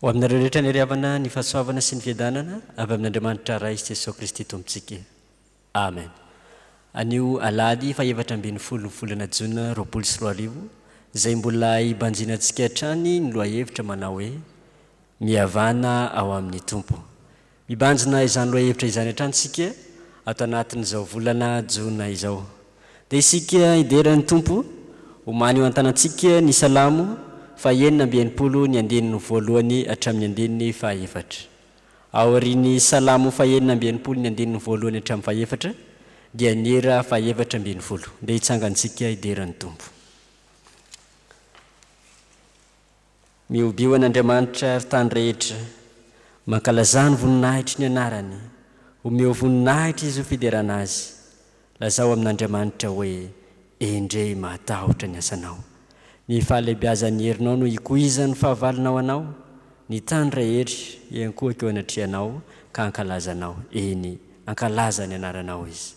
Ho aminareo rehetra ny hery havana, ny fahasoavana sy ny fiadanana avy amin'Andriamanitra Ray sy Jesoa Kristy Tompontsika. Amen. Anio Alahady fahefatra ambin'ny folo ny volana Jona roapolo sy roa arivo, izay mbola hibanjina antsika hatrany ny lohahevitra manao hoe, Mihavana ao amin'ny Tompo. Mibanjina izany lohahevitra izany hatrany isika ato anatin'izao volana jona izao. Dia isika hidera ny Tompo, omany eo an-tanantsika ny Salamo fahenina amby enimpolo ny andininy voalohany hatramin'ny andininy fahaefatra. Aorian'ny Salamo fahenina amby enimpolo ny andininy voalohany hatramin'ny fahefatra dia ny hira fahefatra ambin'ny folo. Dia hitsangan-tsika hidera ny Tompo. Mihobio an'Andriamanitra, ry tany rehetra, mankalazà ny voninahitry ny anarany, omeo voninahitra izy ho fiderana azy, lazao amin'Andriamanitra hoe, Endrey mahatahotra ny asanao! Ny fahalehibiazan'ny herinao no ikoizan'ny fahavalonao anao, ny tany rehetra hiankohoka eo anatrehanao ka hankalaza anao, eny, hankalaza ny anaranao izy.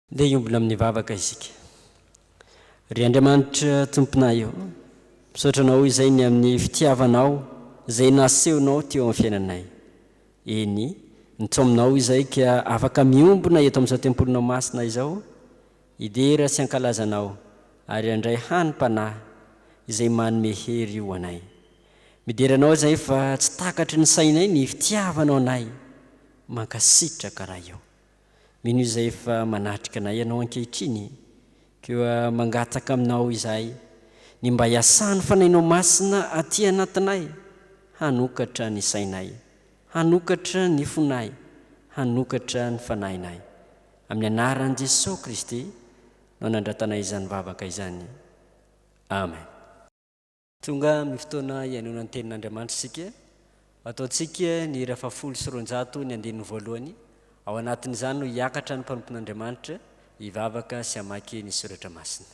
Ndeha hiombona amin'ny vavaka isika. Ry Andriamanitra Tomponay ô, misaotra Anao izay ny amin'ny fitiavanao izay nasehonao teo amin'ny fiainanay. Eny, nitsoa aminao izay ka afaka miombona eto amin'izao tempolinao masina izao, hidera sy hankalaza Anao ary handray hanim-panahy izay manome hery ho anay. Midera Anao izay fa tsy takatry ny sainay ny fitiavanao anay. Mankasitraka Ray ô. Mino izay efa manatrika anay ianao ankehitriny koa mangataka aminao izahay ny mba hiasan'ny Fanahinao Masina aty anatinay hanokatra ny sainay, hanokatra ny fonay, hanokatra ny fanahinay. Amin'ny anaran'i Jesoa Kristy no nandratanay izany vavaka izany. Amen. Tonga amin'ny fotoana hihainoana ny Tenin'Andriamanitra isika. Ataontsika ny hira fahafolo sy roanjato ny andininy voalohany. Ao anatin'izany no hiakatra ny mpanompon'Andriamanitra hivavaka sy hamaky ny soratra masina.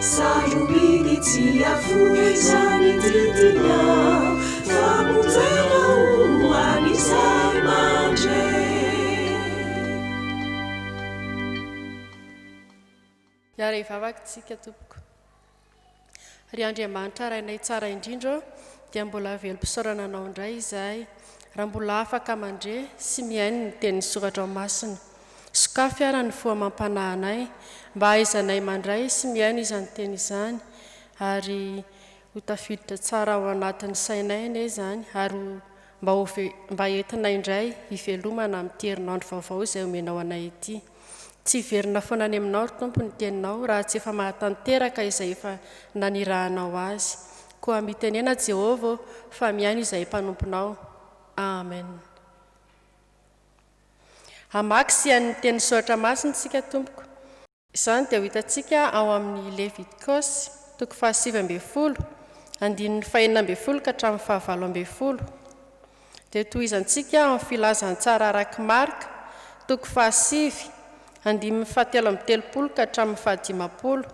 Sarobidy tsy afoizany ity tiana famonjena ho an'izay mandre. Hiara hivavaka isika tompoko. Ry Andriamanitra Rainay tsara indrindra ô, dia mbola velom-pisaorana Anao indray izahay, raha mbola afaka mandre sy mihaino ny tenin'ny soratrao masina. Sokafy ara ny fo amam-panahinay mba hahaizanay mandray sy mihaino izany teny izany ary ho tafiditra tsara ao anatin'ny sainay anie izany ary ho mba ho mba entinay indray hivelomana amin'ity herinandro vaovao izay omenao anay ity. Tsy hiverina foana any aminao ry Tompo ny teninao raha tsy efa mahatanteraka izay efa nanirahanao azy. Koa mitenena Jehovah ô fa mihaino izahay mpanomponao. Amen. Hamaky sy hihaino ny Tenin'ny Soratra Masina isika, tompoko. Izany dia ho hitantsika ao amin'ny Levitikosy, toko fahasivy ambin'ny folo, andininy fahenina ambin'ny folo ka hatramin'ny fahavalo ambin'ny folo. Dia tohizantsika ao amin'ny Filazantsara arak'i Marka, toko fahasivy, andininy fahatelo amby telopolo ka hatramin'ny fahadimampolo.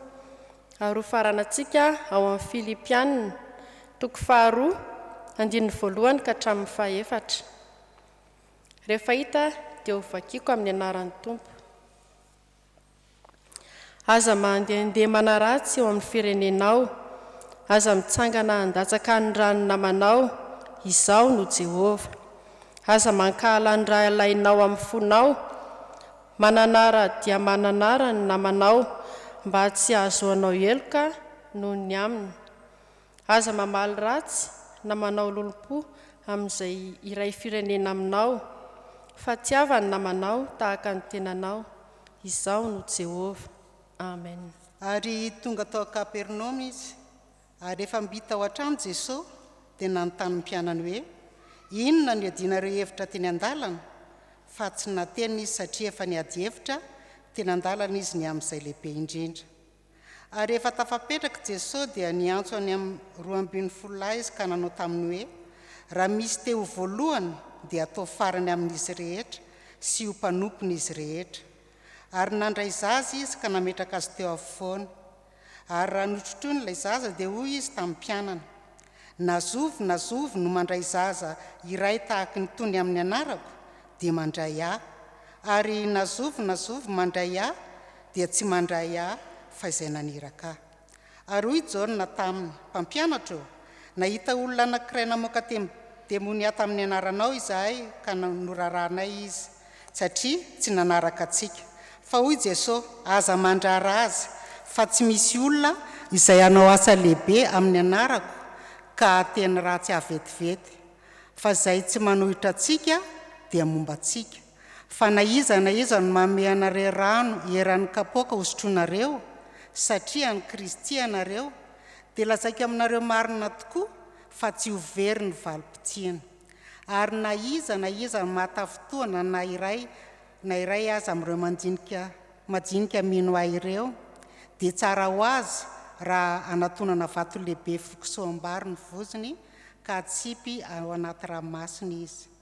Ary hofaranantsika ao amin'ny Filipiana, toko faharoa, andininy voalohany ka hatramin'ny fahefatra. Rehefa hita dia ho vakiako amin'ny anaran'ny Tompo. Aza mandehandeha manaratsy eo amin'ny firenenao, aza mitsangana handatsaka ny ran'ny namanao, Izaho no Jehovah. Aza mankahala ny rahalahinao amin'ny fonao, mananara dia mananara ny namanao, mba tsy hahazoanao heloka noho ny aminy. Aza mamaly ratsy na manao lolompo amin'izay iray firenena aminao, fa tiava ny namanao tahaka ny tenanao. Izaho no Jehovah. Amena. Ary tonga tao Kapernaomy izy. Ary rehefa mby tao an-trano Jesosy, dia nanontany ny mpianany hoe, Inona no iadianareo hevitra teny an-dalana? Fa tsy nateny izy satria efa niady hevitra teny an-dalana izy ny amin'izay lehibe indrindra. Ary rehefa tafapetraka i Jesoa dia niantso any amin'ny roa ambin'ny folo lahy Izy ka nanao taminy hoe, Raha misy te ho voalohany dia ataovy farany amin'izy rehetra sy ho mpanompon'izy rehetra. Ary nandray zaza Izy ka nametraka azy teo afovoany. Ary raha notrotroiny ilay zaza dia hoy Izy tamin'ny mpianany, Na zovy na zovy no mandray zaza iray tahaka in'itony amin'ny anarako dia mandray Ahy, ary na zovy na zovy mandray Ahy dia tsy mandray ahy fa izay naniraka ahy. Ary hoy Jaona taminy, Mpampianatra ô, nahita olona anankiray namoaka demonià tamin'ny anaranao izahay ka norarahanay izy, satria tsy nanaraka antsika. Fa hoy Jesosy, Aza mandrara azy, fa tsy misy olona izay hanao asa lehibe amin'ny anarako ka hahateny ratsy ahy vetivety. Fa izay tsy manohitra antsika dia momba antsika. Fa na iza na iza no manome anareo rano eran'ny kapoaka hosotroinareo, satria an'i Kristy ianareo, dia lazaiko aminareo marina tokoa fa tsy ho very ny valim-potsiany. Ary na iza na iza no mahatafintohina na iray na iray aza amin'ireo manjinika majinika mino Ahy ireo, dia tsara ho azy raha anatonana vato lehibe firokisoam-bary ny vozony ka atsipy ao anaty ranomasina izy.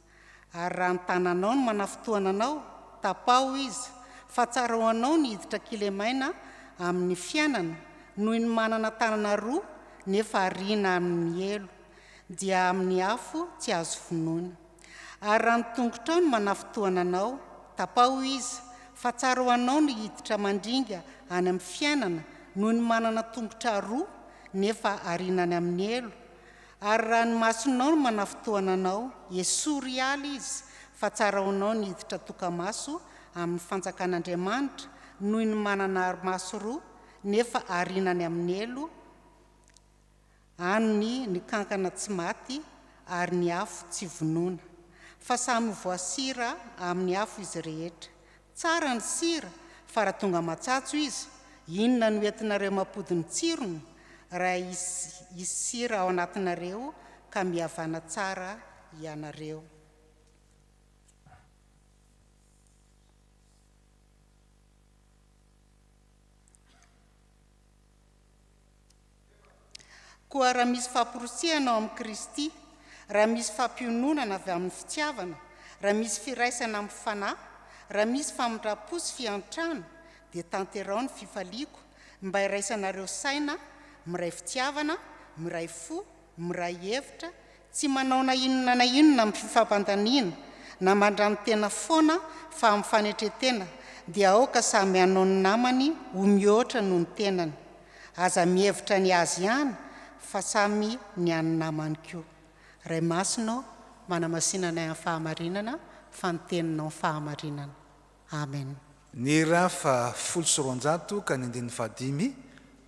Ary raha ny tananao no manafintohana anao, tapaho izy, fa tsara ho anao ny hiditra kilemaina amin'ny fiainana noho ny manana tanana roa nefa ariana amin'ny helo, dia amin'ny afo tsy azo vonoina. Ary raha ny tongotrao no manafintohana anao, tapaho izy, fa tsara ho anao ny hiditra mandringa any amin'ny fiainana noho ny manana tongotra roa nefa ariana any amin'ny helo, Ary raha ny masonao no manafitohana anao, esory hiala izy, fa tsara ho anao ny hiditra tokamaso amin'ny fanjakan'Andriamanitra noho ny manana ari-maso roa, nefa ariana any amin'ny helo, any ny kankana tsy maty ary ny afo tsy vonoina. Fa samy ho voasira amin'ny afo izy rehetra. Tsara ny sira fa raha tonga matsatso izy, inona no entinareo mampody ny tsirony raha hisy sira ao anatinareo ka mihavana tsara ianareo. Koa raha misy famporisihana ao amin'i Kristy, raha misy fampiononana avy amin'ny fitiavana, raha misy firaisana amin'ny Fanahy, raha misy famindram-po sy fiantrana, dia tanteraho ny fifaliako, mba iraisanareo saina, miray fitiavana, miray fo, miray hevitra, tsy manao na inona na inona amin'ny fifampandaniana na mandranotena foana fa amin'ny fanetretena dia aoka samy hanao ny namany ho mihoatra noho ny tenany. Aza mihevitra ny azy ihany fa samy ny an'ny namany koa. Ray Masina ô, manamasina anay amin'ny fahamarinana fa ny Teninao ny fahamarinana. Amen. Ny ra fa folo sy roanjato ka ny andininy fahadimy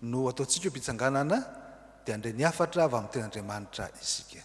no ataontsika ho mpitsanganana dia handre ny hafatra avy amin'ny tenin'Andriamanitra isika.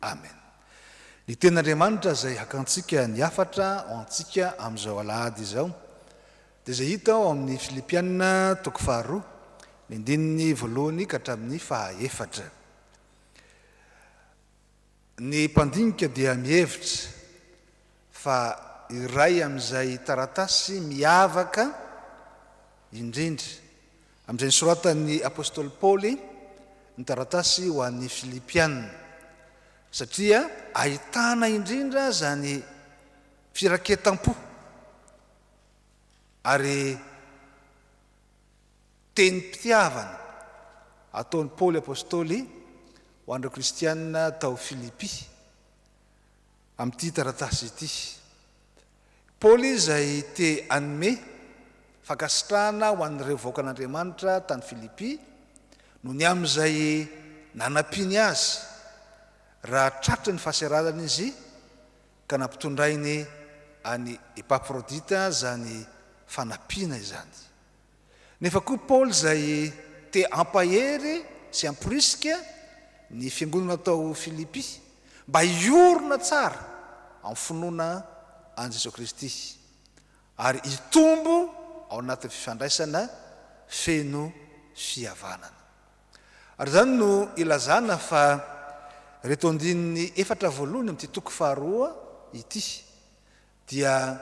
Amen. Ny Tenin'Andriamanitra izay hakantsika ny hafatra ho antsika amin'izao Alahady izao dia izay hita ao amin'ny Filipiana toko faharoa, ny andininy voalohany ka hatramin'ny fahaefatra. Ny mpandinika dia mihevitra fa iray amin'izay taratasy miavaka indrindra Amin'izay nosoratan'ny apostoly Paoly ny taratasy ho an'ny Filipiana, satria ahitana indrindra aza ny firaketam-po ary tenim-pitiavana ataon'i Paoly apostoly ho an'ireo kristiana tao Filipy amin'ity taratasy ity. Paoly izay te hanome fankasitrahana ho an'ireo vahoakan'Andriamanitra tany Filipy no ny amin'izay nanampiany azy raha tratry ny fahaseralana izy ka nampitondrainy an'i Epafrodita izany fanampiana izany. Nefa koa Paoly izay te hampahery sy hamporisika ny fiangonana tao Filipy mba hiorina tsara amin'ny finoana an'i Jesoa Kristy ary hitombo ao anatin'ny fifandraisana feno fihavanana. Ary izany no ilazana fa ireto andininy efatra voalohany amin'ity toko faharoa ity dia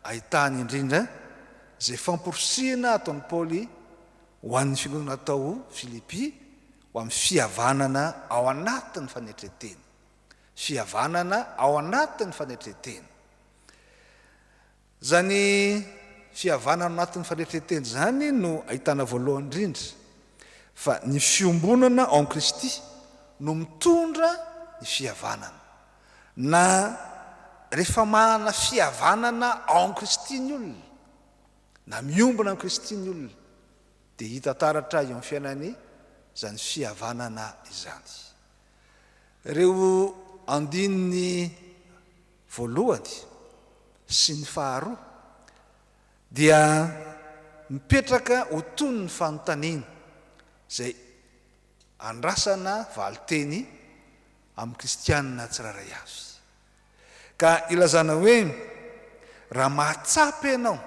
ahitana indrindra izay famporisihina ataon'i Paoly ho an'ny finoana tao Filipy ho amin'ny fihavanana ao anatin'ny fanetren-tena. Fihavanana ao anatin'ny fanetren-tena. Izany fihavanana ao anatin'ny fanetren-tena izany no ahitana voalohany indrindra fa ny fiombonana ao amin'i Kristy no mitondra ny fihavanana. Na rehefa manana fihavanana ao amin'i Kristy ny olona, na miombona an'i Kristy ny olona, dia hita taratra eo amin'ny fiainany izany fihavanana izany. Ireo andininy voalohany sy ny faharoa dia mipetraka ho toy ny fanontaniana izay andrasana valinteny amin'ny kristiana tsirairay avy. Ka ilazana hoe, raha mahatsapa ianao,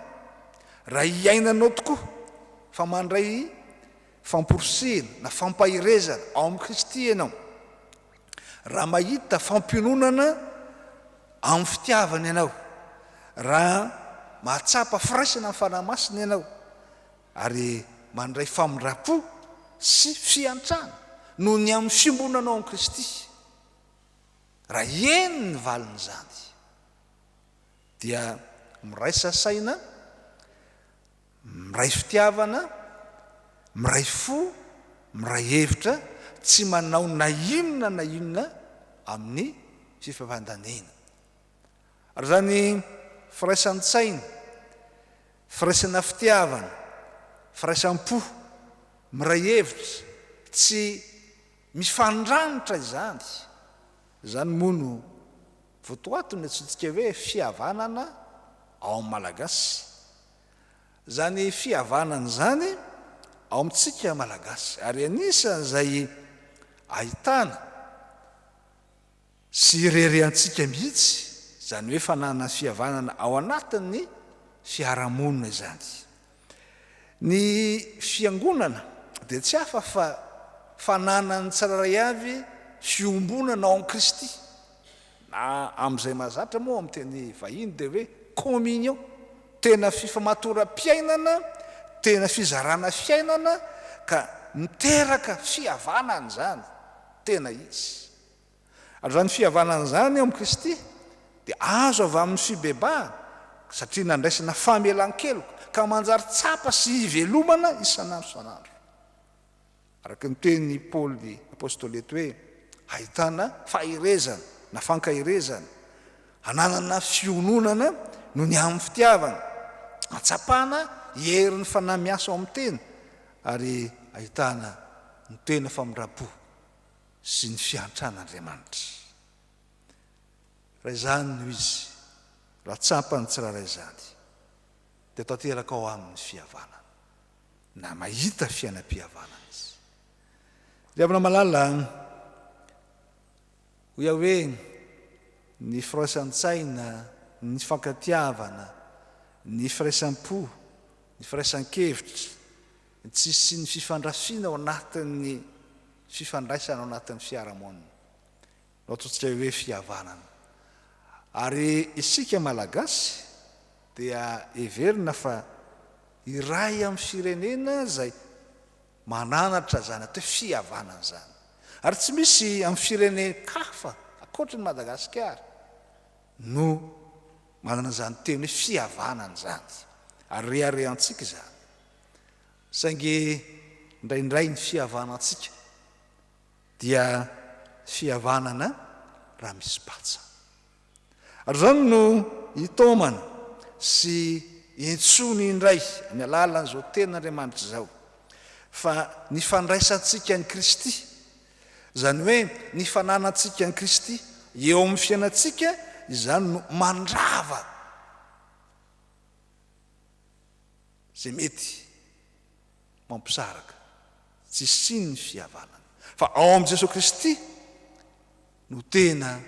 raha iainanao tokoa fa mandray famporisihina na fampaherezana ao amin'i Kristy ianao, raha mahita fampiononana amin'ny fitiavana ianao, raha mahatsapa firaisana amin'ny Fanahy Masina ianao, Ary mandray famindram-po sy fiantrana noho ny amin'ny fiombonanao amin'i Kristy. Raha eny ny valin'izany, dia miraisa saina, miray fitiavana, miray fo, miray hevitra, tsy manao na inona na inona amin'ny fifampandaneana. Raha ny firaisan-tsaina, firaisana fitiavana, firaisam-po, miray hevitra, tsy mifandranitra izany, izany moa no votoaton'ny antsointsika hoe fihavanana ao amin'ny Malagasy. Izany fihavanana izany ao amintsika Malagasy ary anisan'izay ahitana. Tsy irery antsika mihitsy izany hoe fananana fihavanana ao anatin'ny fiarahamonina izany. Ny Fiangonana dia tsy hafa fa fananan'ny tsirairay avy fiombonana ao amin'i Kristy, na amin'izay mahazatra moa amin'ny teny vahiny dia hoe communion, tena fifamatoram-piainana, tena fizarana fiainana ka miteraka fihavanana izany, tena izy. Ary izany fihavanana izany eo amin'i Kristy dia azo avy amin'ny fibebahana, satria nandraisana famelan-keloka, ka manjary tsapa sy ivelomana isan'andro isan'andro. Araka ny tenin'i Paoly apostoly eto hoe, ahitana faherezana na fankaherezana, ananana fiononana noho ny amin'ny fitiavana, ahatsapana herin'ny fanahy miasa ao amin'ny tena, ary ahitana ny tena famindram-po. sy ny fiantran'Andriamanitra. Raha izany no izy, raha tsapan'ny tsirairay izany, dia tanteraka ao aminy ny fihavanana, na mahita fiainam-pihavanana izy. Ry havana malala an! Hoy aho hoe, ny firaisan-tsaina, ny fifankatiavana, ny firaisam-po, ny firaisan-kevitra, Tsy hisian'ny fifandrafiana ao anatin'ny fifandraisana ao anatin'ny fiarahamonina no ataontsika hoe fihavanana. Ary isika Malagasy dia heverina fa iray amin'ny firenena izay mananatra izany atao hoe fihavanana izany. Ary tsy misy amin'ny firenen-kafa ankoatry ny Madagasikara no manana izany teny hoe fihavanana izany. Ary reharehantsika izany. Saingy indraindray ny fihavanantsika dia fihavanana raha misy patsa. Ary izany no itaomana sy intsony indray amin'ny alalan'izao Tenin'Andriamanitra izao fa ny fandraisantsika an'i Kristy, izany hoe ny fananantsika an'i Kristy eo amin'ny fiainantsika, izany no mandrava. Ze mety mampisaraka tsy hisian'ny fihavanana. Fa ao amin'i Jesoa Kristy no tena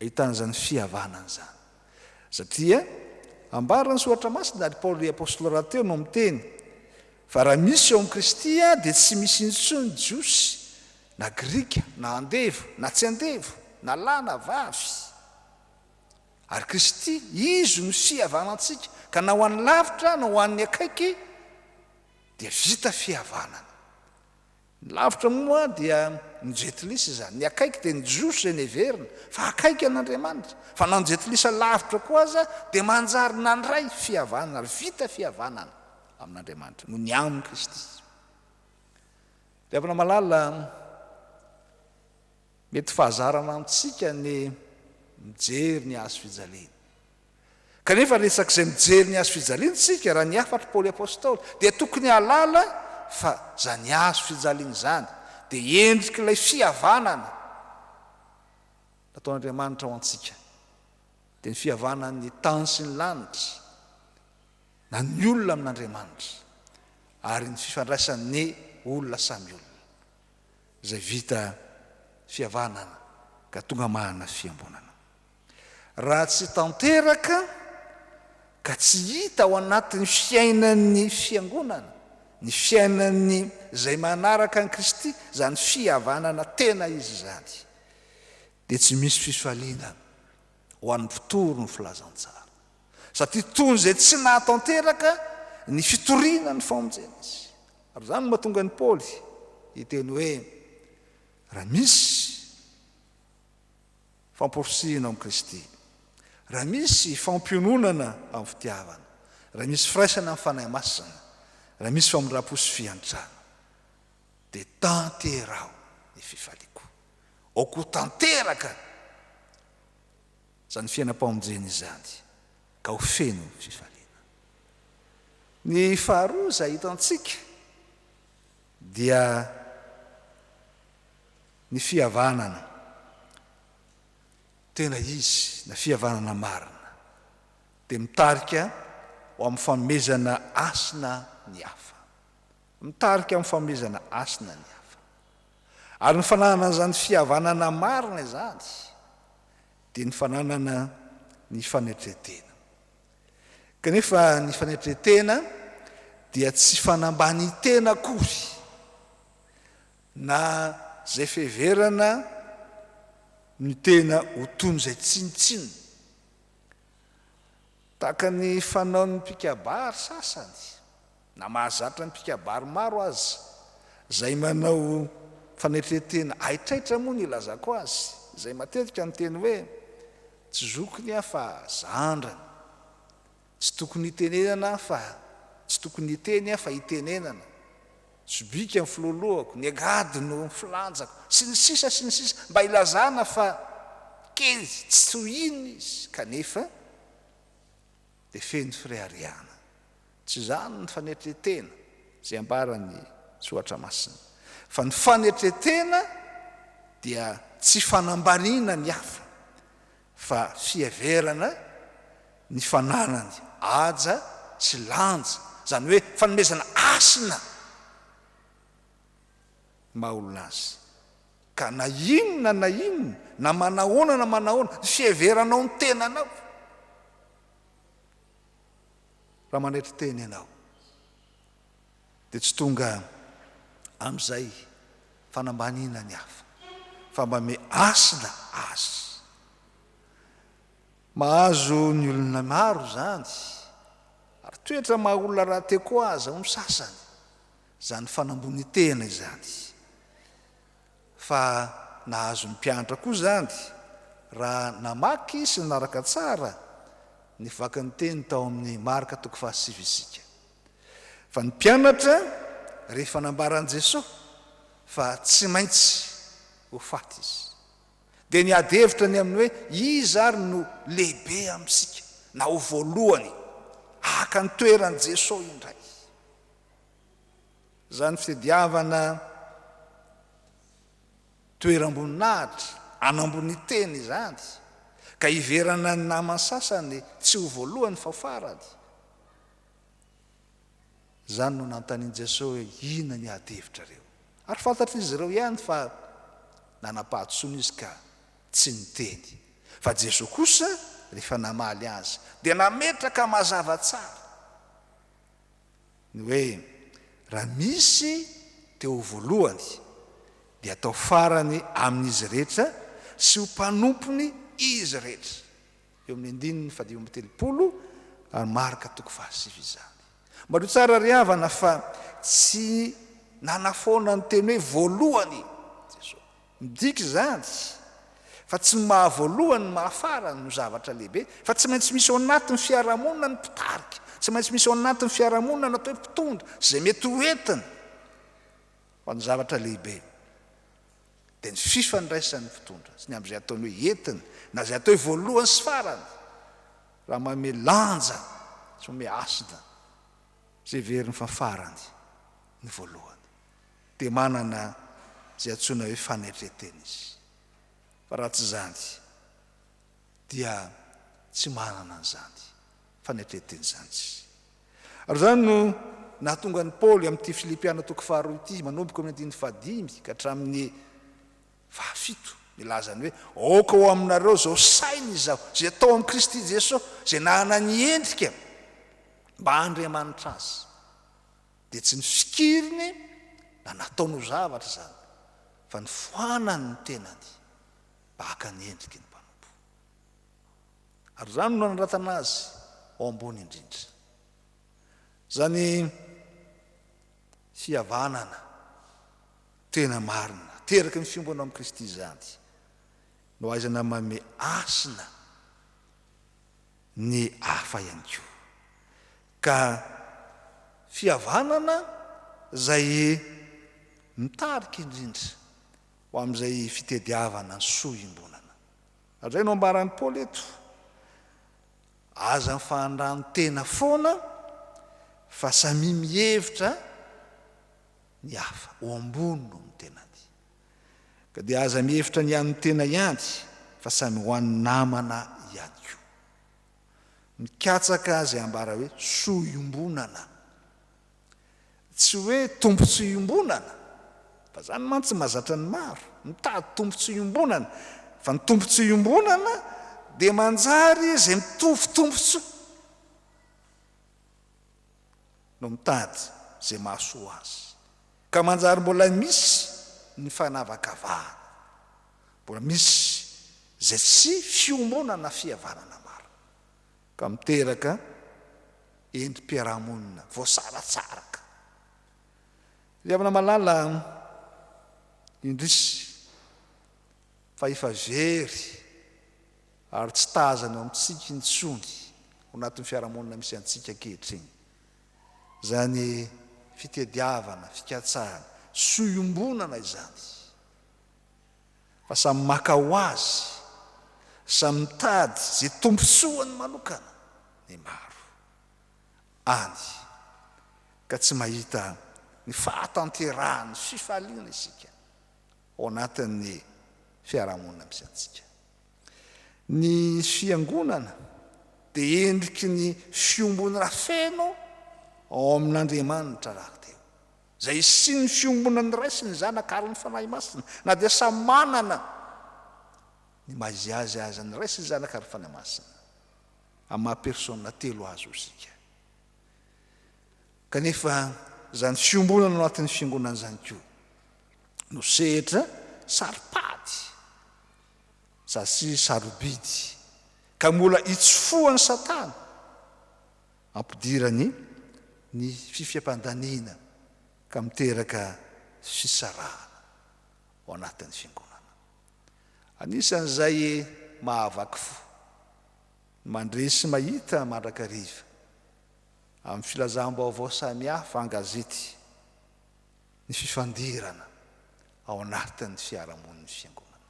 ahitana izany fihavanana izany. Satria ambaran'ny Soratra Masina ary Paoly ry Apostoly rahateo no miteny fa raha misy ao amin'i Kristy aho dia tsy misy intsony Jiosy na Grika na andevo na tsy andevo na lahy na vavy. Ary Kristy, Izy no sihavanantsika, ka na ho any lavitra na ho any akaiky dia vita fihavanana. Ny lavitra moa dia ny jentilisa izany, ny akaiky dia ny Jiosy izay neverina fa akaiky an'Andriamanitra, fa na ny jentilisa lavitra koa aza dia manjary nandray fihavanana ary vita fihavanana amin'Andriamanitra noho ny amin'i Kristy. Ry havana malala, Mety fahazarana amintsika ny mijery ny hazo fijaliana. Kanefa resak'izay mijery ny hazo fijaliana isika, raha ny hafatr'i Paoly Apostoly, dia tokony hahalala fa izany hazo fijaliana izany dia endrik'ilay fihavanana nataon'Andriamanitra ho antsika, dia ny fihavanan'ny tany sy ny lanitra, na ny olona amin'Andriamanitra, ary ny fifandraisan'ny olona samy olona. izay vita fihavanana ka tonga mahana fiangonana. Raha tsy tanteraka ka tsy hita ao anatin'ny fiainan'ny fiangonana ny fiainan'ny izay manaraka an'i Kristy izany fihavanana tena izy izany dia tsy misy fifaliana ho an'ny mpitory ny filazantsara. satria toy izay tsy nahatanteraka ny fitoriana ny famonjena izy. Ary izany no mahatonga an'i Paoly hiteny hoe, Raha misy famporisihina ao amin'i Kristy, raha misy fampiononana amin'ny fitiavana, raha misy firaisana amin'ny Fanahy Masina, raha misy famindram-po sy fiantrana, dia tanteraho ny fifaliako. Aoka ho tanteraka! izany fiainam-pamonjena izany ka ho feno fifaliana. Ny faharoa izay hitantsika dia ny fihavanana tena izy na fihavanana marina dia mitarika ho amin'ny fanomezana hasina ny hafa. Mitarika amin'ny fanomezana hasina ny hafa. Ary ny fananana izany fihavanana marina izany dia ny fananana ny fanetren-tena. Kanefa ny fanetren-tena dia tsy fanambanin-tena akory na izay fiheverana ny tena ho toy ny izay tsinontsinona, tahaka ny fanaon'ny mpikabary sasany Na mahazatra ny mpikabary maro aza izay manao fanetren-tena haitraitra moa ny ilazako azy izay matetika miteny hoe tsy zokiny aho fa zandrany, tsy tokony hitenenana aho fa tsy tokony hiteny aho fa hitenenana, sobika ny filoloako, ny angady no filanjako, sy ny sisa sy ny sisa mba hilazana fa kely tsy toy inona izy kanefa dia feno fireharehana. Tsy izany ny fanetren-tena izay ambaran'ny Soratra Masina, fa ny fanetren-tena dia tsy fanambaniana ny hafa, fa fiheverana ny fananany haja sy lanja, izany hoe fanomezana hasina ny maha olona azy. Ka na inona na inona, na manahoana na manahoana, ny fiheveranao ny tenanao, raha manaitra tena ianao, dia tsy tonga amin'izay fanambaniana ny hafa, fa mba mihasina azy. Mahazo ny olona maro izany, ary toetra maha olona rahateo koa aza ho ny sasany. Izany fanambonitehana izany. Fa nahazo ny mpianatra koa izany raha namaky sy nanaraka tsara ny vakin'ny teny tao amin'ny Marka toko fahasivy isika. Fa ny mpianatra rehefa nambaran'i Jesoa fa tsy maintsy ho faty Izy, dia niady hevitra ny amin'ny hoe iza ary no lehibe amintsika na ho voalohany haka ny toeran'i Jesoa indray. Izany fitediavana toeram-boninahitra an'ambony teny izany ka hiverana ny naman sasany tsy ho voalohany fa ho farany. Izany no nanontanian'i Jesoa hoe inona ny ady hevitrareo? Ary fantatr'izy ireo ihany fa nanam-pahadisoana izy ka tsy niteny. Fa Jesoa kosa rehefa namaly azy dia nametraka mazava tsara. ny hoe raha misy te ho voalohany dia atao farany amin'izy rehetra sy ho mpanompony izy rehetra, eo amin'ny andininy fahadimy amby telopolo ary Marka toko fahasivy izany. Mario tsara ry havana fa tsy nanafoana ny teny hoe voalohany i Jesoa. Midika izany fa tsy ny maha voalohany ny maha farany no zavatra lehibe fa tsy maintsy misy ao anatin' ny fiarahamonina ny mpitarika, tsy maintsy misy ao anatin' ny fiarahamonina ny atao hoe mpitondra sy izay mety ho entiny fa ny zavatra lehibe dia ny fifandraisan' ny mpitondra sy ny amin' izay ataony hoe entiny na izay atao hoe voalohany sy farany raha manome lanja sy manome hasina izay heveriny fa farany ny voalohany. dia manana izay antsoina hoe fanetre-tena izy, fa raha tsy izany dia tsy manana an'izany fanetre-tena izany izy. Ary izany no nahatonga an'i Paoly amin'ity Filipiana toko faharoa ity, manomboka amin'ny andininy fahadimy ka hatramin'ny fahafito, milaza ny hoe, Aoka ho aminareo izao saina izaho, izay tao amin'i Kristy Jesoa, izay nanana ny endrika mba Andriamanitra azy. Dia tsy ny fikiriny na nataony ho zavatra izany, fa ny foanany ny tenany mba haka ny endriky ny mpanompo. Ary izany no nanoratana azy ao ambony indrindra. Izany fihavanana tena marina teraky ny fiombonao amin'i Kristy izany no ahaizana mamehy hasina ny hafa ihany koa. Ka fihavanana izay mitarika indrindra ho amin'izay fitediavana ny soa iombonana. Izay no ambaran'i Paoly eto, Aza mifandrano-tena foana fa samia mihevitra ny hafa ho ambony noho ny tenany. Ka dia aza mihevitra ny an'ny tena ihany fa samy ho an'ny namana ihany koa. Mikatsaka azy ambara hoe soa iombonana. Tsy hoe tombontsoa iombonana, fa izany mantsy mahazatra ny maro, mitady tombontsoa iombonana, fa ny tombontsoa iombonana dia manjary izay mitovy tombontsoa. no mitady izay mahasoa azy, ka manjary mbola misy ny fanavakavahana, mbola misy izay tsy fiombonana fihavanana marina, ka miteraka endri-piarahamonina voasaratsaraka. Ry havana malala, indrisy fa efa very. ary tsy tazany ao amintsika intsony ao anatin'ny fiarahamonina misy antsika ankehitriny izany fitediavana, fikatsahana, soa iombonana izany fa samy maka ho azy, samy mitady izay tombontsoany manokana ny maro any ka tsy mahita ny fahatanterahan'ny fifaliana isika ao anatin'ny fiarahamonina misy antsika. Ny Fiangonana dia endriky ny fiombonana feno ao amin' Andriamanitra rahateo, izay isin' ny fiombonana iray sy ny Zanaka ary ny Fanahy Masina, na dia samy manana ny maha izy azy aza ny Ray sy ny Zanaka ary ny Fanahy Masina, amin'ny maha persona telo azy io isika. Kanefa izany fiombonana ao anatin' ny Fiangonana izany koa no sehatra saro-pady. Zasy sarobidy ka mbola itsofohan'i Satana ampidirany ny fifiapan-daniana ka miteraka fisarahana ao anatin'ny fiangonana. Anisan'izay mahavaky fo ny mandresy mahita mandrakariva amin'ny filazam-baovao samihafa an-gazety. ny fifandirana ao anatin'ny fiarahamonin'ny Fiangonana,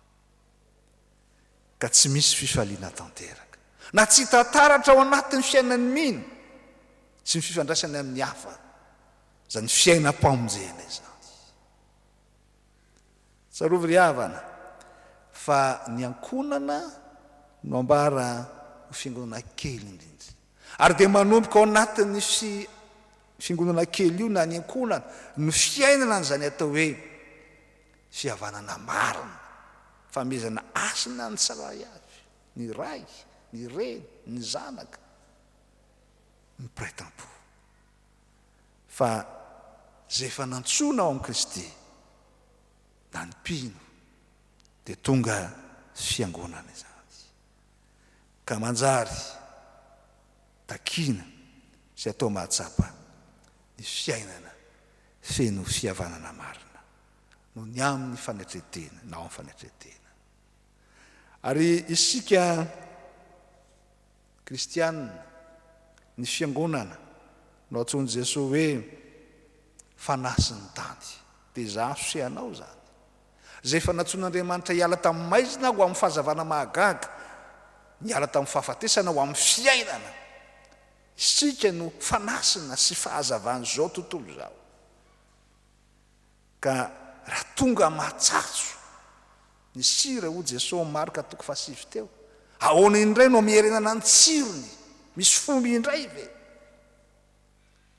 ka tsy misy fifaliana tanteraka, na tsy hita taratra ao anatin'ny fiainan'ny mino sy ny fifandraisany amin'ny hafa, izany fiainam-pamonjena izany. Tsarovy ry havana, fa ny ankohonana no ambara ho fiangonana kely indrindra. Ary dia manomboka ao anatin'ny fi, fiangonana kely io na ny ankohonana ny fiainana an'izany atao hoe fihavanana marina, famehezana hasina ny tsirairay avy, ny ray, ny reny, ny zanaka, ny mpiray tampo. Fa izay efa nantsoina ao amin'i Kristy na ny mpino dia tonga fiangonana izany. ka manjary takiana sy atao mahatsapa ny fiainana feno fihavanana marina noho ny amin'ny fanetren-tena na ao amin'ny fanetren-tena. Ary isika kristiana, ny Fiangonana no antsoin'i Jesoa hoe fanahy sy ny tany. Dia izaho sy ianao izany. izay efa nantsoin'Andriamanitra hiala tamin'ny maizina ho amin'ny fahazavana mahagaga, niala tamin'ny fahafatesana ho amin'ny fiainana. Isika no fanasina sy fahazavan'izao tontolo izao. Ka raha tonga matsatso ny sira, hoy Jesosy, Marka toko fahasivy teo, ahoana indray no miherenana ny tsirony? Misy fony indray ve?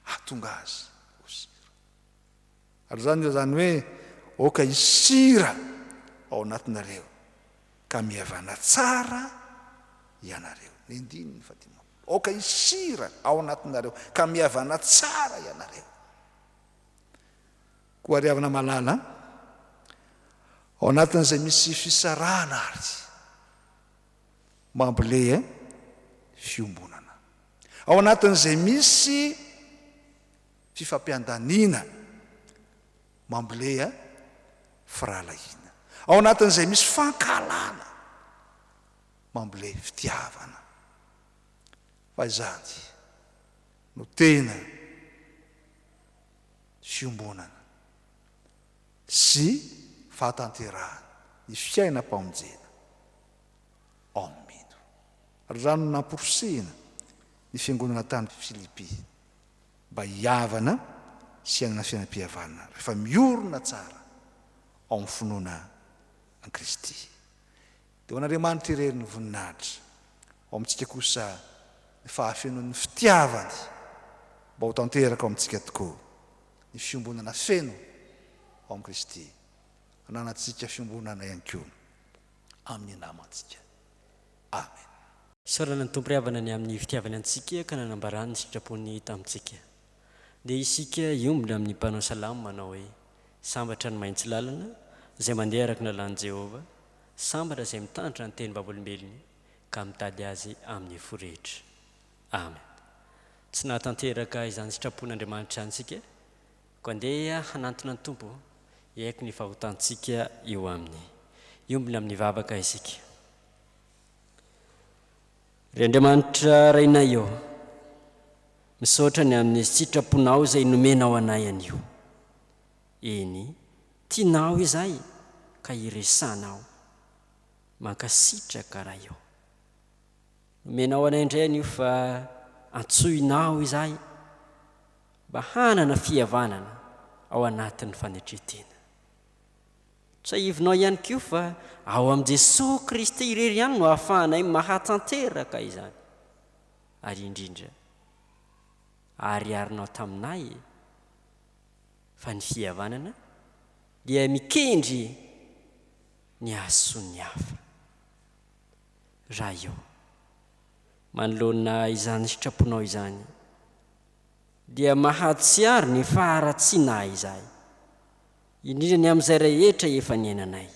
Hahatonga azy ho sira. Ary izany dia izany hoe aoka hisy sira ao anatinareo ka mihavana tsara ianareo. Ny andininy fahadimampolo. Aoka hisy sira ao anatinareo ka mihavana tsara ianareo. Koa ry havana malala an, ao anatin'izay misy fisarahana ary mambole fiombonana. Ao anatin'izay misy. fifampiandaniana mamble a firahalahiana ao anatin'izay misy fankahalana mamble fitiavana fa izany no tena fiombonana sy fahatanterahan ny fiainam-pamonjena ao amin'ny mino raha no namporisihina ny fiangonana tany Filipy mba hihavana sy hanana fiainam-pihavanana rehefa miorina tsara ao amin'ny finoana an'i Kristy. Dia ho an'Andriamanitra irery ny voninahitra, ao amintsika kosa ny fahafenoan'ny fitiavany mba ho tanteraka ao amintsika tokoa ny fiombonana feno ao amin'i Kristy, hananantsika fiombonana ihany koa amin'ny namantsika. Amen. Isaorana ny Tompo ry havana ny amin'ny fitiavany antsika ka nanambarany ny sitrapony tamintsika. Dia isika hiombona amin'ny mpanao salamo manao hoe, Sambatra ny mahitsy lalana, izay mandeha araka ny lalàn'i Jehovah, sambatra izay mitandrina ny tenim-bavolombelony ka mitady azy amin'ny fo rehetra. Amen. Tsy nahatanteraka izany sitrapon'Andriamanitra izany isika, koa andeha hanantona ny Tompo hiaiky ny fahotantsika eo aminy. Hiombona amin'ny vavaka isika. Ry Andriamanitra Rainay ô, misaotra ny amin'ny sitraponao izay nomenao anay anio. Eny, tianao izahay ka iresanao. Mankasitraka Ray ô. Nomenao anay indray anio fa antsoinao izahay mba hanana fihavanana ao anatin'ny fanetren-tena. Tsiahivinao ihany koa fa ao amin'i Jesoa Kristy irery ihany no ahafahanay mahatanteraka izany. Ary indrindra, ahariharinao taminay fa ny fihavanana dia mikendry ny hahasoa ny hafa. Ray ô, manoloana izany sitraponao izany, dia mahatsiaro ny faharatsiana ahy izahay. Indrindra ny amin'izay rehetra efa niainanay.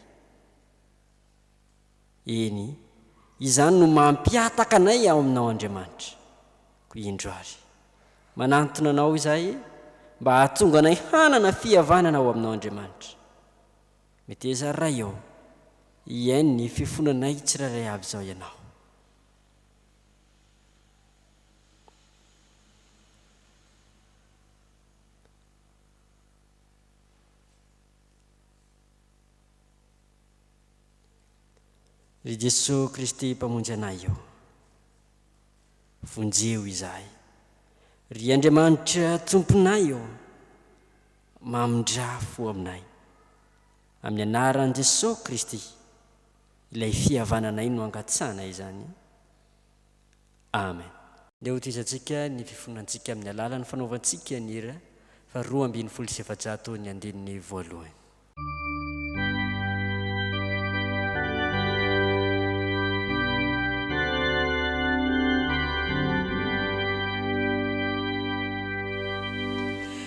Eny, izany no mampihataka anay ao Aminao, Andriamanitra. Koa indro ary. Manantona Anao izahay mba hahatonga anay hanana fihavanana ao Aminao, Andriamanitra. Meteza ary Ray ô, hihaino ny fifonanay tsirairay avy izao Ianao. Ry Jesoa Kristy Mpamonjy anay ô, vonjeo izahay. Ry Andriamanitra Tomponay ô, mamindrà fo aminay. Amin'ny Anaran'i Jesoa Kristy, ilay fihavananay no angatsana izany. Amen. Ndeha hotohizantsika ny fifonantsika amin'ny alalan'ny fanaovantsika ny hira faha roa ambin'ny folo sy efajato ny andininy voalohany.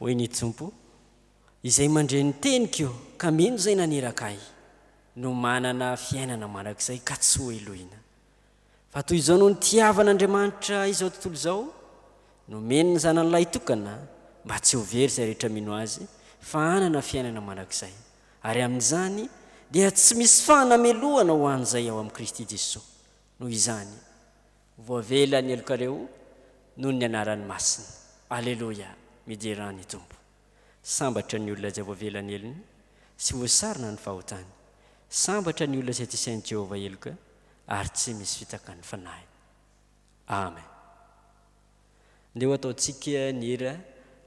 Hoy ny Tompo, Izay mandre ny teniko ka mino izay naniraka Ahy, no manana fiainana mandrakizay ka tsy ho helohina. Fa toy izao no nitiavan'Andriamanitra izao tontolo izao, nomeny ny Zanany Lahitokana mba tsy ho very izay rehetra mino Azy, fa hanana fiainana mandrakizay. Ary amin'izany dia tsy misy fanamelohana ho an'izay ao amin'i Kristy Jesoa. Noho izany, Voavela ny helokareo noho ny anarany masina. Aleloia! Midera ny Tompo. Sambatra ny olona izay voavela ny helony sy voasarona ny fahotany. Sambatra ny olona izay tsy sain'i Jehovah heloka ary tsy misy fitaka ny fanahiny. Amen. Ndeha ho ataontsika ny hira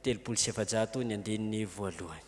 telopolo sy efajato ny andininy voalohany.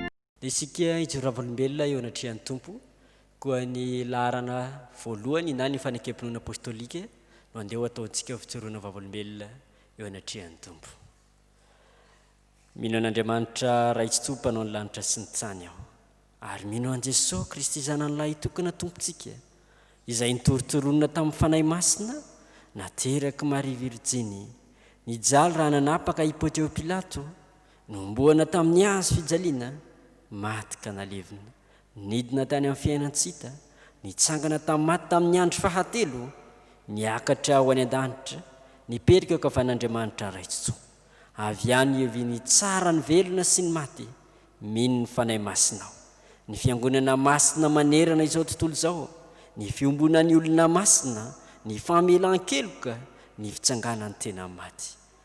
Isika hijoro vavolombelona eo anatrehan'ny Tompo, koa ny laharana voalohany na ny fanekempinoana apostolika no andeha ho ataontsika fijoroana vavolombelona eo anatrehan'ny Tompo. Mino an'Andriamanitra Raintsitoa Mpanao ny lanitra sy ny tany aho, ary mino an'i Jesoa Kristy Zanany Lahitokana Tompontsika, Izay nitorontoronina tamin'ny Fanahy Masina, nateraky Maria Virjiny, nijaly raha nanapaka i Pontio Pilato, Nohomboana tamin'ny hazo fijaliana, maty ka nalevina. Nidina tany amin'ny fiainan-tsita, nitsangana tamin'ny maty tamin'ny andro fahatelo, miakatra ho any an-danitra, nipetraka eo ankavan'Andriamanitra Raitso. Avy any hiavian'ny tsara ny velona sy ny maty, mino ny Fanahy Masina aho. Ny Fiangonana Masina manerana izao tontolo izao, ny fiombonan'ny olona masina, ny famelan-keloka, ny fitsanganan'ny tena maty.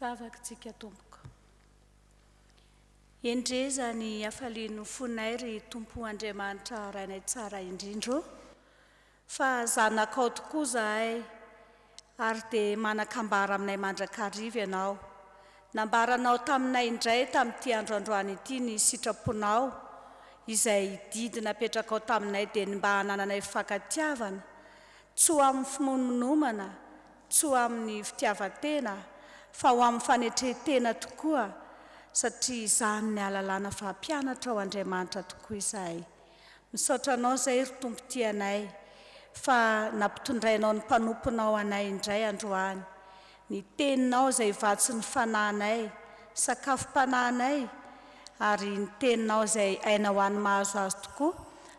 Vavak tsika tompoko. Endrey zany hafalian'ny fonay ry Tompo Andriamanitra Rainay Tsara indrindra ô! Fa zanakao tokoa zahay ary dia manan-kambara aminay mandrakariva ianao. Nambaranao taminay indray tamin'ity andro androany ity ny sitraponao izay didy napetrakao taminay dia ny mba hanananay fifankatiavana, tsy ho amin'ny fimoninomana tsy ho amin'ny fitiavan-tena fa ho amin'ny fanetren-tena tokoa satria izany ny ahalalana fa mpianatra ao Andriamanitra tokoa izahay. Misaotra Anao izay ry Tompo tianay fa nampitondrainao ny mpanomponao anay indray androany. Ny Teninao izay vatsin'ny fanahinay, sakafom-panahinay ary ny Teninao izay aina ho an'ny mahazo azy tokoa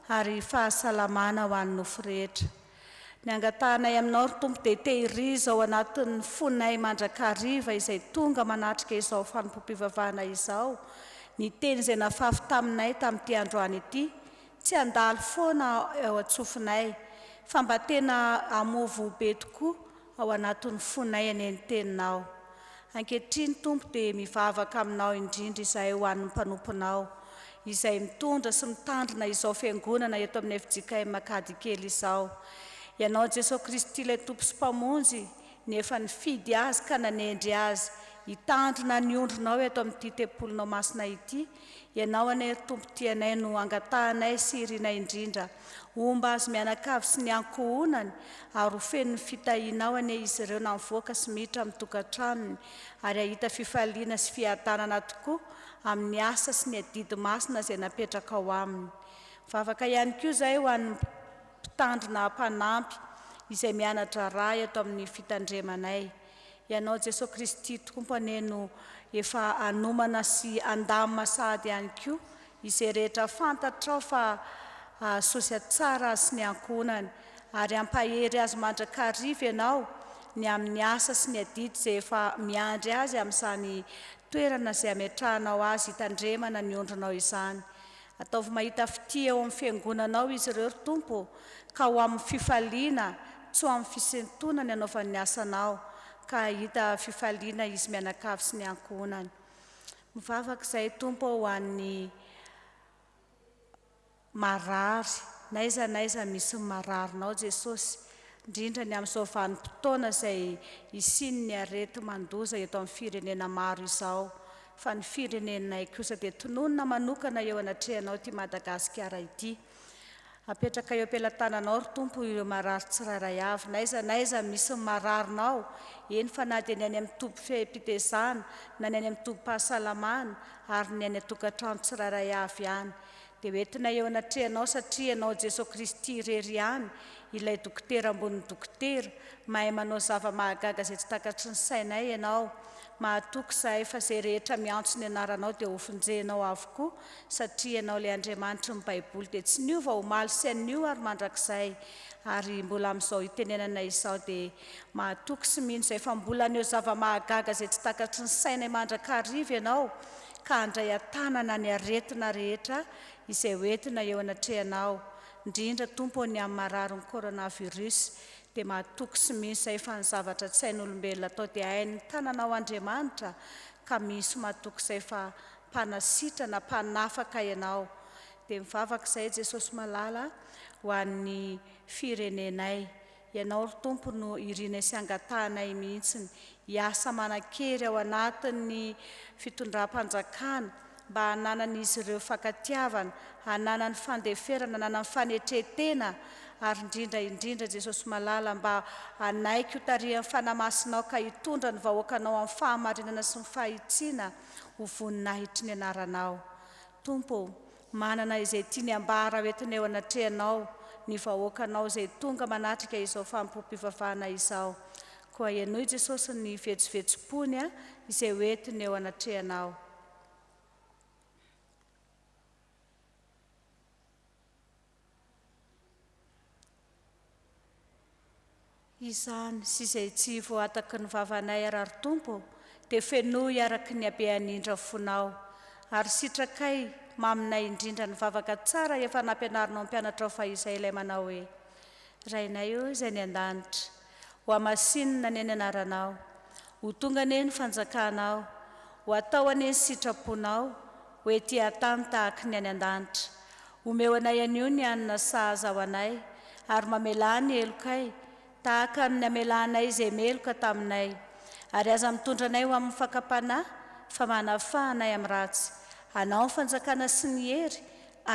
ary fahasalamana ho an'ny nofo rehetra. Ny angatahanay aminao ry Tompo dia tehirizo ao anatin'ny fonay mandrakariva izay tonga manatrika izao fanompoam-pivavahana izao ny teny izay nafafy taminay tamin'ity androany ity, tsy handalo foana ao an-tsofinay fa mba tena hamoa voa be tokoa ao anatin'ny fonay anie ny Teninao. Ankehitriny, Tompo, dia mivavaka Aminao indrindra izahay ho an'ny mpanomponao, izay mitondra sy mitandrina izao Fiangonana eto amin'ny fjkm Makady kely izao. Ianao Jesoa Kristy ilay Tompo sy Mpamonjy ny efa nifidy azy ka nanendry azy hitandrina ny ondrinao eto amin'ity Tempolinao Masina ity, Ianao anie ry Tompo tianay no angatahanay sy irinay indrindra. Homba azy mianakavy sy ny ankohonany ary ho feno ny fitahianao anie izy ireo na mivoaka sy miditra amin'ny tokantranony ary hahita fifaliana sy fiadanana tokoa amin'ny asa sy ny adidy masina izay napetrakao aminy. Mivavaka ihany koa izahay ho an'ny Mpitandrina mpanampy izay miana-draharaha eto amin'ny fitandremanay. Ianao Jesoa Kristy Tompo anie no efa anomana sy andamina sahady ihany koa izay rehetra fantatrao fa hahasoa sy hahatsara azy sy ny ankohonany, ary hampahery azy mandrakariva Ianao ny amin'ny asa sy ny adidy izay efa miandry azy amin'izany toerana izay ametrahanao azy hitandremana ny ondrinao izany. Ataovy mahita fitia eo amin'ny Fiangonanao izy ireo, ry Tompo, ka ho amin'ny fifaliana, tsy ho amin'ny fisintonana ny anaovany ny asanao, ka hahita fifaliana izy mianakavy sy ny ankohonany. Mivavaka izahay, Tompo ô, ho an'ny marary, n'aiza n'aiza misy ny mararinao, Jesosy, indrindra ny amin'izao vanim-potoana izay hisian'ny areti-mandoza eto amin'ny firenena maro izao. fa ny firenenay kosa dia tononina manokana eo anatrehanao ity Madagasikara ity. Apetraka eo am-pelatananao ry Tompo ireo marary tsirairay avy, n'aiza n'aiza misy ny mararinao, eny fa na dia ny any amin'ny tobim-pifehim-pitezana, na ny any amin'ny tobim-pahasalamana, ary ny any an-tokantrano tsirairay avy ihany, dia hoentinay eo anatrehanao satria ianao Jesoa Kristy irery ihany, ilay Dokotera ambonin'ny Dokotera, mahay manao zava-mahagaga izay tsy takatry ny sainay ianao, Mahatoky izahay fa izay rehetra miantso ny anaranao dia hofonjehinao avokoa satria ianao ilay Andriamanitry ny Baiboly dia tsy niova omaly sy anio ary mandrakizay ary mbola amin'izao itenenanay izao dia mahatoky sy mino izay fa mbola haneho zava-mahagaga izay tsy takatry ny sainay mandrakariva ianao ka handray an-tanana ny aretina rehetra izay hoentina eo anatrehanao indrindra Tompo ô ny amin'ny mararin'ny coronavirus dia mahatoky sy mizay fa ny zavatra tsy hain'olombelona atao dia hain'ny tananao Andriamanitra ka misy mahatoky izay fa mpanasitra na mpanafaka ianao dia mivavaka izahay Jesosy malala ho an'ny firenenay ianao ry Tompo no irinay sy angatahanay mihitsiny hiasa manankery ao anatin'ny fitondram-panjakana mba hananan'izy ireo fankatiavana, hananany fandeferana, hananany fanetren-tena, ary indrindra indrindra, Jesosy Malala, mba hanaiky ho tarihan'ny Fanahy Masinao ka hitondra ny vahoakanao amin'ny fahamarinana sy ny fahitsiana ho voninahitry ny Anaranao. Tompo ô, manana izay tiany ambara hoentiny eo anatrehanao ny vahoakanao izay tonga manatrika izao fanompoam-pivavahana izao. Koa henoy Jesosy ny vetsovetsom-pony izay hoentiny eo anatrehanao. Izany sy izay tsy voataky ny vavanay ara ry Tompo ô, dia fenoy araka ny habeany indra fonao. Ary sitrakay maminay indrindra ny vavaka tsara efa nampianarinao ny mpianatrao fahizay ilay manao hoe, Rainay ô izay any an-danitra, Ho hamasinina anie ny anaranao, ho tonga anie ny fanjakanao, ho atao anie ny sitraponao, ho ety an-tany tahaky ny any an-danitra. Omeo anay anio ny hanina sahaza ho anay, ary mamelà ny helokay, tahaka ny namelanay izay meloka taminay. Ary aza mitondra anay ho amin'ny fakam-panahy, fa manafaha anay amin'ny ratsy. Anao ny fanjakana sy ny hery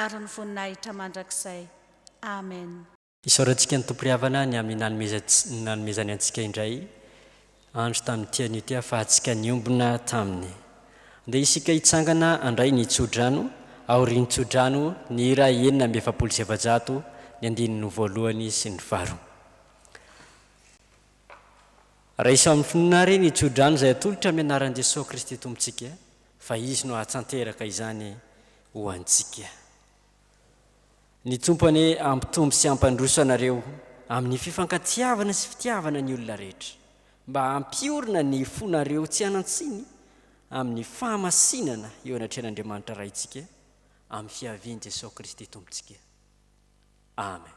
ary ny voninahitra mandrakizay. Amen. Isaorantsika ny Tompo ry havana ny amin'ny nanomezan nanomezany antsika indray andro tamin'ity anio ity ahafahantsika niombona taminy. Andeha isika hitsangana handray ny tsodrano aorian'ny tsodrano ny hira enina amby efapolo sy efajato ny andininy voalohany sy ny faharoa. Raiso amin'ny finoana àry ny tsodrano izay atolotra amin'ny anaran'i Jesoa Kristy Tompontsika fa Izy no hahatsanteraka izany ho antsika. Ny Tompo anie hampitombo sy hampandroso anareo amin'ny fifankatiavana sy fitiavana ny olona rehetra, mba hampiorina ny fonareo tsy hanan-tsiny amin'ny fahamasinana eo anatrehan'Andriamanitra Raintsika, amin'ny fiavian'i Jesosy Kristy Tompontsika. Amen.